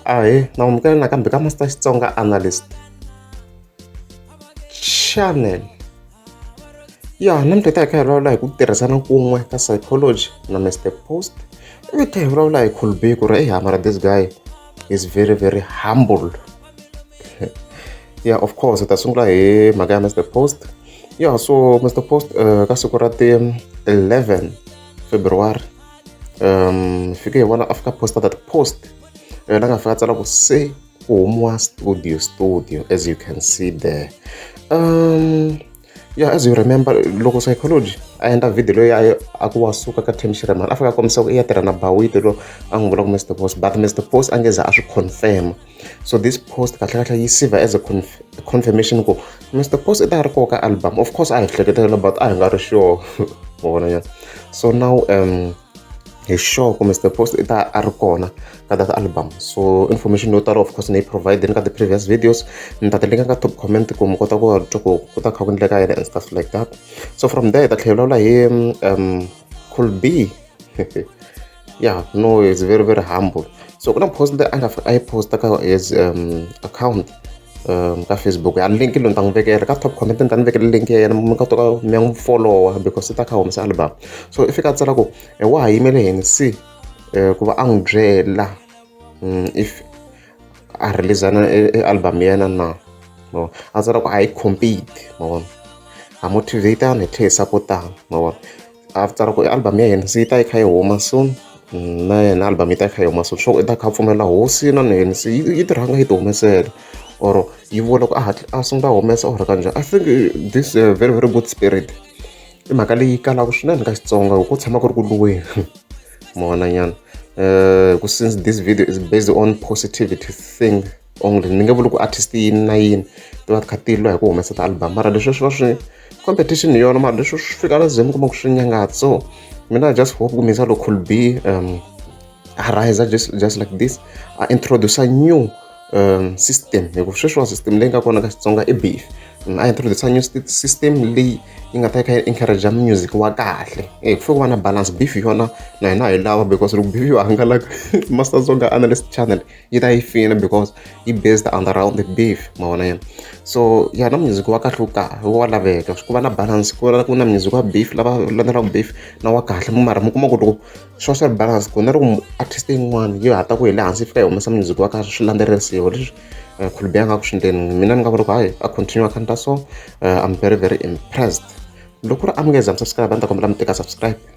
ahee naamukela nakambe ka master xitsonga analyst channel ya namuntlha ta hi kha hi vulavula hi ku tirhisana kun'we ka psychology na mr post ivi ta hi vulavula hi colby ku ri ehamara this guy is very very humble yeah of course hi ta sungula hi mhaka ya mr post yeah so mr post uh, ka siku ra ti 11 february um fike hi vona afika poster that post yena a nga fika a tsala ku se ku humiwa studio studio as you can see there um yeah as you remember loko psychology a endla video leyi a a ku wa suka ka tim shiremani a fika a kombisa ku i ya tirha na bawite lo a n'wi vula ku mr post but mr post a nge za a swi confirma so this post kahle kahle yi siva as a conf confirmation ku mr post i ta ri koho ka album of course a hi hleketelela but a hi nga ri sure wa vona nyana so now um hi sure ku mr post i ta a ri kona ka that album so information yo tala of course ni yi provideni ka the previous videos ni ta ti linka ka top comment ku mi kota ku twa ku ku ta kha ku endleka yena and stuff like that so from there hi ta tlhela hi vulavula hi um cool b yeah no is very very humble so kuna post leyi a nga a yi posta ka his um, account um, ka facebook ya link loyi ni ta n'wi vekela ka top comment ni ta ni vekela link ya yena mi ka toka mi ya n'wi followa because se ta kha humesa album so i fika a tsala ku eh, wa ha yimele yini si eh, ku va a n'wi byela mm, if a releasana eh, eh, album ya yena na no a tsala ku a yi compete mavona ha motivatana hi tlhe hi sapotana mavona A swi tsara ku i album ya yena se yi ta yi kha yi huma soon na yena album yi ta yi kha yi huma soon sure u ta kha a pfumela hosi na yena se yi yi tirhanga yi ti humesela or yi vula ku a hatla a sungula a humesa or kanjhani I think this a very very good spirit i mhaka leyi kalaka swinene ka Xitsonga hi ku tshama ku ri ku lweni mavonanyana ku since this video is based on positivity thing. or ni nge vuli ku artist yini na yini ti va ti kha ti lwa hi ku humesa ti-album mara leswi swi va swi competition hi yona mara leswi swi fika la zim kuma ku swi nyangatsa so mina just hope ku misa loko could be um a rise just, just like this a introduce a new um, system hikuva sweswiwa system leyi nga kona ka xitsonga i beef mm, a introduce a new system leyi yi nga ta yi kha yi encourage music wa kahle e ku fike va na balance beef yona na hina hi lava because loko beef yo hangalaka master zonga analyst channel yi ta yi fina because yi based on the round the beef ma vona yena so ya na music wa kahle ka wa laveka ku va na balance ku na ku na music wa beef lava landzelaka beef na wa kahle mara mi kuma ku loko swa swa balance ku na loko artist yin'wana yi hata ku hi le hansi fika yi humesa music wa kahle swi landzelerisiwa leswi eh, khulubi ya nga ku swindeni mina ni nga vula ku hayi a continue a khanita so eh, i'm very very impressed loko ri amukeza mi subscribe a ni ta kombela mi teka subscribe